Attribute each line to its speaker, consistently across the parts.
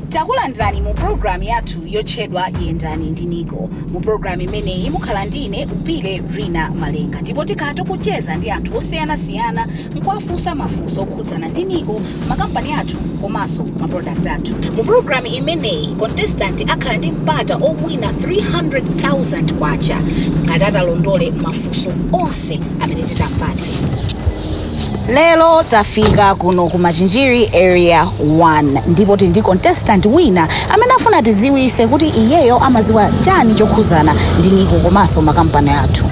Speaker 1: takulandirani mu pulogalamu yathu yotchedwa yendani ndi niko mu pulogalamu imeneyi mukhala ndine upile rina malenga ndipo tikhala tikucheza ndi anthu osiyanasiyana n'kuwafunsa mafunso okhudzana ndi Niko, makampani athu komanso ma product athu. Mu program imeneyi, contestant akhala ndi mpata owina K300,000 ngati atalondole mafunso onse amene titampatse. Lero tafika kuno ku Machinjiri Area 1 ndipo tili ndi contestant wina amene afuna atidziwitse kuti iyeyo amadziwa chani chokhudzana ndi Niko komanso makampani athu.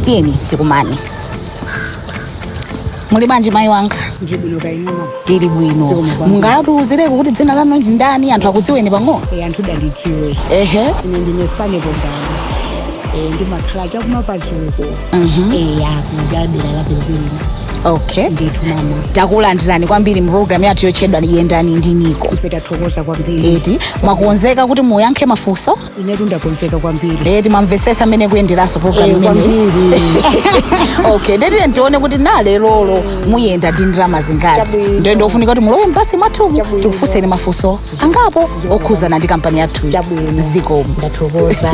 Speaker 1: Tiyeni tikumane. muli bwanji mayi wanga Ndili bwino kaya
Speaker 2: inu mama. tili bwino Zikomo
Speaker 1: kwambiri. mungatiuzireko kuti dzina lanu ndi ndani anthu akudziweni pang'ono Eh, anthu
Speaker 2: andidziwe. ehe Ine ndine
Speaker 1: Fane
Speaker 2: Bogani. Eh, ndimakhala chakumapazuko. Mhm. Eh, aku dera la Pilipilima. okay
Speaker 1: Ndithu
Speaker 2: mama. takulandirani kwambiri
Speaker 1: mu programu yathu yotchedwa yendani ndi niko Ife tathokoza kwambiri.
Speaker 2: eti mwakonzeka
Speaker 1: kuti muyankhe mafunso inetu
Speaker 2: ndakonzeka kwambiri Eh, timamvesesa
Speaker 1: amene kuyenderanso program Eh, imeneyi kwambiri. okay nde tione kuti nalelolo muyenda ndalama zingati Chabwino. ndiye ndi zofunika kuti mulowe m'basi mwathumu Chabwino. tikufunseni mafunso angapo okhuzana ndi kampani yathuyi Chabwino. zikomo ndathokoza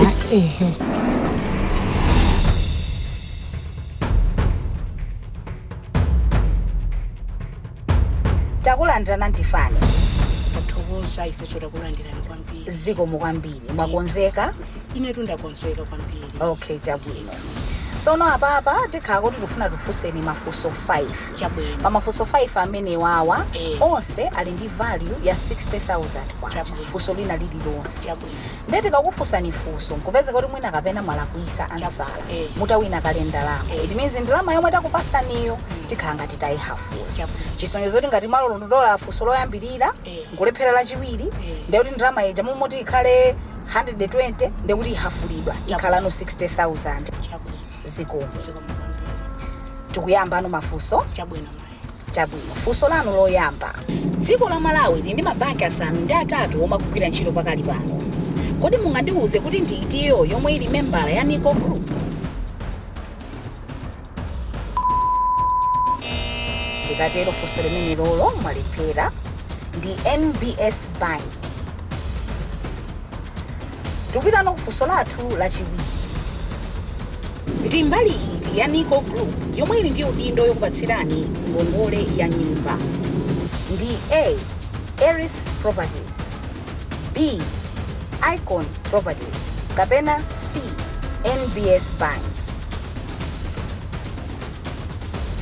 Speaker 1: takulandirani anti fani
Speaker 2: tathokoza ifeso takulandirani kwambiri zikomo kwambiri
Speaker 1: mwakonzeka inetu
Speaker 2: ndakonzeka kwambiri okay chabwino
Speaker 1: sono apapa tikhala kuti tifuna tikufunseni mafunso 5 chabwino
Speaker 2: pamafunso
Speaker 1: 5 amenewawa Eh. onse ali ndi value ya 60000 kwacha Chabwino. funso lina lililonse chabwino
Speaker 2: Nde
Speaker 1: tikakufunsani funso nkupezeka kuti mwina kapena mwalakwisa ansala mutawina kale ndalama it means ndalama yomwe takupasaniyo tikhala ngati tayihafula chisonyezo choti ngati mwalondola funso loyambilira nkulephera lachiwiri ndekuti ndalama ija m'malo moti ikhale 120 ndekuti ihafulidwa ikhalano 60000 zikomo tikuyambano mafunso
Speaker 2: Chabwino, funso
Speaker 1: lanu loyamba. Dziko la Malawi lili ndi mabanki asanu ndi atatu omwe akugwira ntchito pakali pano. Kodi mungandiuze kuti ndi itiyo yomwe ili membala ya Nico Group? Tikatero funso limenelolo mwalephera ndi NBS Bank. Tikupitano kufunso lathu lachiwiri. Ndi mbali iti ya NICO Group yomwe ili ndi udindo yokupatsirani ngongole ya nyumba? Ndi A Eris Properties, B Icon Properties kapena C NBS Bank?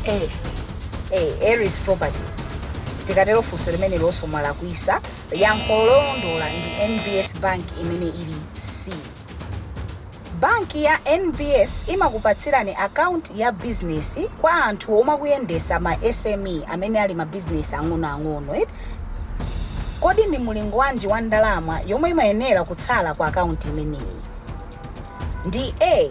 Speaker 1: A. A Eris Properties. Tikatero funso limenelonso mwalakwisa. Yankho lolondola ndi NBS Bank imene ili C. Banki ya NBS imakupatsirani akaunti ya bizinesi kwa anthu omwe akuyendetsa ma SME amene ali mabizinesi ang'onoang'ono eti. Kodi ndi mulingo wanji wa ndalama yomwe imayenera kutsala ku akaunti imeneyi? Ndi A.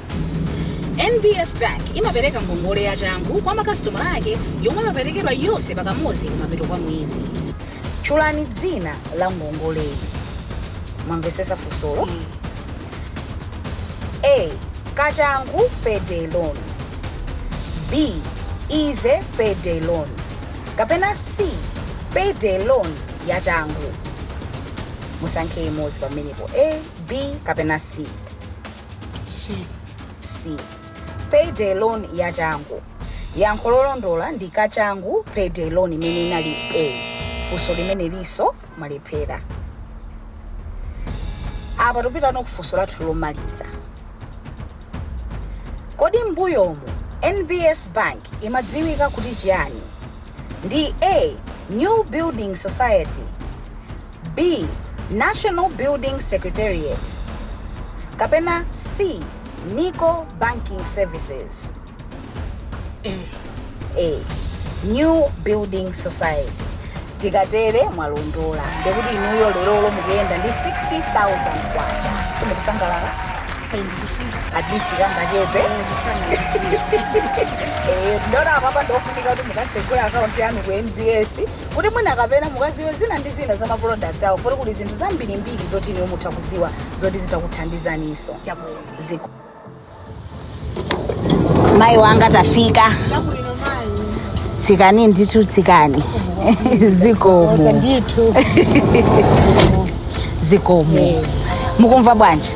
Speaker 1: NBS Bank imapereka ngongole ya changu kwa makasitomala ake yomwe imaperekedwa yonse pakamodzi kumapeto kwa mwezi. Tchulani dzina la ngongoleyi. Mwamvetsetsa funsolo? A. Kachangu payday loan. B. Easy payday loan. Kapena C. Payday loan ya changu. Musankhe imodzi pamenepo A, B kapena C. C. C. Payday loan yachangu. Yankho lolondola ndi kachangu payday loan imene inali A. Funso limenelinso mwalephera. Apa tikupitano kufunso lathu lomaliza. Kodi mbuyomu NBS Bank imadziwika kuti chiyani? Ndi A. New Building Society B. National Building Secretariat kapena C. Nico Banking Services A. New Building Society tikatere mwalondola ndikuti inuyo lerolo mukuyenda ndi 60000 kwacha simukusangalala at least kangachepe Eh, ndaona apapa ndofunika kuti mukatsegule akaunti yanu ku nbs kuti mwina kapena mukaziwe zina ndi zina za ma product awo poti kuli zinthu zambirimbiri zoti inuyo mutha kuziwa zoti zitha kuthandizaninso chabwino zikomo mayi wanga tafika chabwino mayi tsikani ndithu tsikani zikomo ndithu zikomo mukumva bwanji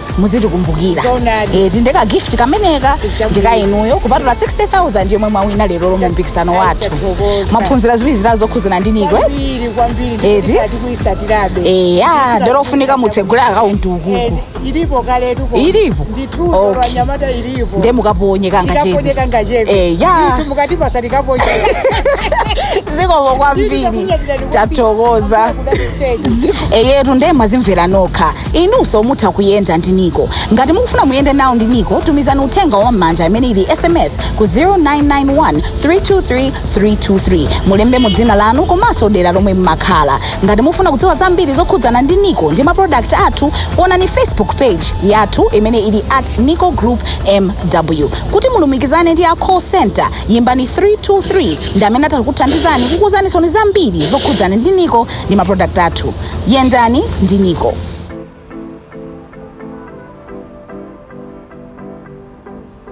Speaker 1: muzitikumbukira Zoonadi. Eh, ti nde ka gift kameneka Chabwino. ndi ka inuyo kupatula 60000 yomwe mwawina leroli mu mpikisano wathu Tathokoza. mwaphunzira ziwiri zitatu zokhuzana ndi NICO kwambiri kwambiri Eti?
Speaker 2: ndikuitsatirabe eya nde
Speaker 1: pofunika mutsegule akaunti ukuku ilipo kaletu
Speaker 2: uko. Ilipo? ndithu
Speaker 1: Okay. okay.
Speaker 2: anyamata ilipo nde mukaponye
Speaker 1: kangachepe tikaponye kangachepe
Speaker 2: eya Ndithu mukati basa
Speaker 1: tikaponyeka zikomo kwambiri Ndikunyadirani kwambiri. tathokoza Ndikunyadirani kwambiri. eyetu nde mwazimvera nokha inunso mutha kuyenda ndi nico ngati mukufuna muyende nawo ndi nico tumizani uthenga wa m'manja imene ili sms ku 0991 323 323 mulembemo dzina lanu komanso dera lomwe mmakhala ngati mukufuna kudziwa zambiri zokhudzana ndi nico ndi ma product athu onani facebook page yathu imene ili at nico group mw kuti mulumikizane ndi a call center yimbani 323 ndi amene atakuthandizani kukuuzanisoni zambiri zokhudzana ndi nico ndi ma product athu yendani ndi niko